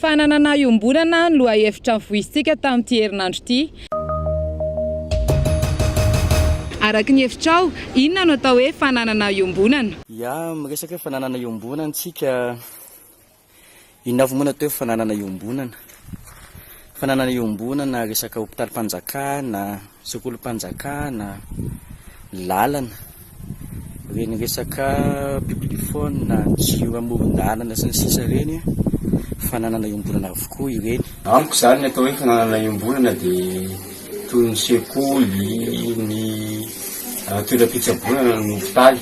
Fananana iombonana no lohahevitra nivoizintsika tamin'ity herinandro ity. Araka ny hevitrao, inona no atao hoe fananana iombonana? Ya, miresaka hoe fananana iombonana isika. Inona avy moa no atao hoe fananana iombonana? Fananana iombonana, resaka hopitalim-panjakana, sekolim-panjakana, lalana, ireny resaka publiphone, jiro amoron-dalana sy ny sisa ireny fananana iombonana avokoa ireny. Amiko izany ny atao hoe fananana iombonana dia toy ny sekoly, ny toeram-pitsaboana na ny hopitaly.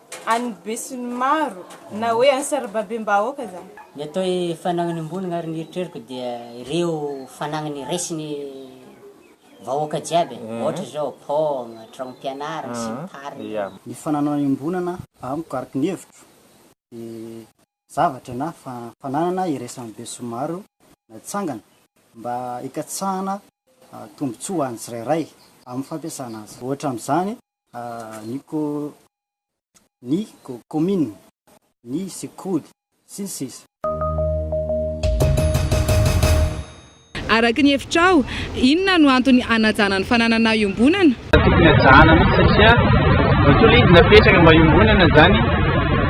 an'ny besinimaro na hoe an'ny sarababem-bahoaka izany. Ny atao hoe fanagnan'ny iombonana ary ny eritreriko dia ireo fanagnany raisin'ny vahoaka jiaby e, ohatra izao paoma, tranom-pianarana sy ny tariny. Ny fananana iombonana amiko araka ny hevitro dia zavatra na fananana iraisan'ny besinimaro natsangana mba hikatsahana tombotsoa ho an'ny tsirairay amin'ny fampiasana azy. Ohatra amin'izany ny kaominina, ny sekoly, sy ny sisa. Araka ny hevitrao, inona no antony hanajana ny fananana iombonana? Tokony hajana mihitsy satria ny tolona izy napetraka mba hiombonana izany.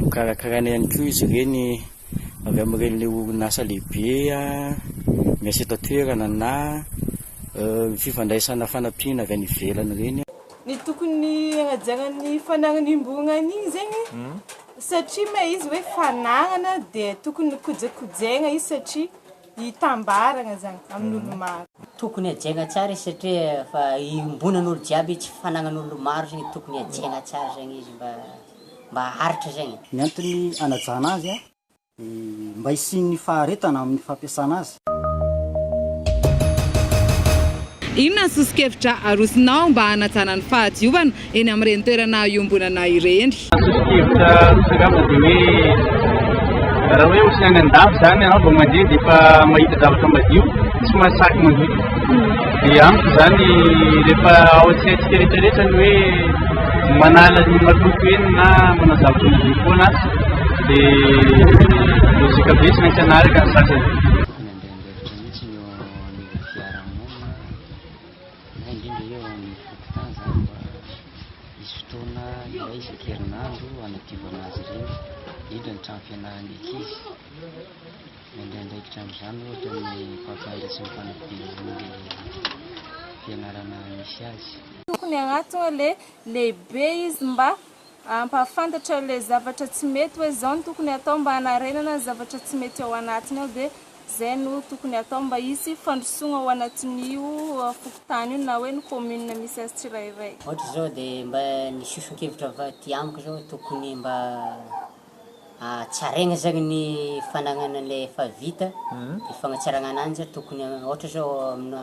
Nokarakaraina ihany koa izy ireny avy amin'ireny orinasa lehibe miasa eto an-toerana na fifandraisana fanampiana avy any ivelany ireny. Ny tokony hanajaran'ny fanarinim-borogna an'igny zegny, satria ma izy hoe fanarana dia tokony kojakojaigna izy satria. hitambaragna zany amin'olo maro. Tokony hajaina tsara izy satria efa iombonan'olo jiaby io, tsy fanagnan'olo maro zegny tokony hajaina tsara zegny izy mba mba haharitra zegny. Ny antony anajana azy dia mba hisian'ny faharetana amin'ny fampiasana azy. Inona ny soso-kevitra arosonao mba hanajana ny fahadiovana eny amin'ireny toerana iombonana ireny. Sosokevitra misakafo dia hoe raha hoe ohatry ny any an-dafy izany ianao vao mandeha dia efa mahita zavatra madio, tsy mahasahy mandoto. Dia amiko izany rehefa ao an-tsaintsika rehetra rehetra ny hoe manala ny maloto eny na manao zavatra madio foana aza dia logique be tsy maintsy hanaraka ny sasany. na indrindra eo amin'ny fokontany izany mba hisy fotoana iray isan-kerinandro hanadiovana azy ireny, indrindra ny trano fianaran'ny ankizy. Mandray andraikitra amin'izany ohatra ny mpampianatra sy ny mpanodidina ilay fianarana misy azy. Tokony agnatona ilay lehibe izy mba hampahafantatra ilay zavatra tsy mety, hoe izao no tokony hatao mba hanarenana ny zavatra tsy mety ao anatiny ao, dia Izay no tokony hatao mba hisy fandrosoana ao anatin'io fokontany io na hoe ny commune misy azy tsirairay. Ohatra izao dia mba ny soson-kevitra avy aty amiko izao tokony mba hatsaraina izany ny fanagnana an'ilay efa vita, ny fagnatsarana ananjy tokony ohatra izao amina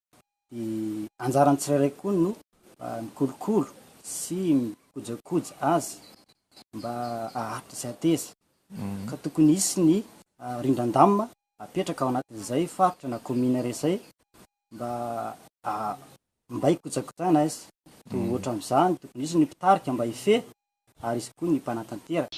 Dia anjaran'ny tsirairay koa no mikolokolo sy mikojakoja azy mba haharitra sy hateza. Ka tokony hisy ny rindran-damina apetraka ao anatin'izay faritra na kaominina iray izay mba mba hikojakojana azy. Dia ohatra amin'izany tokony hisy ny mpitarika mba hifehy ary izy koa ny mpanatanteraka.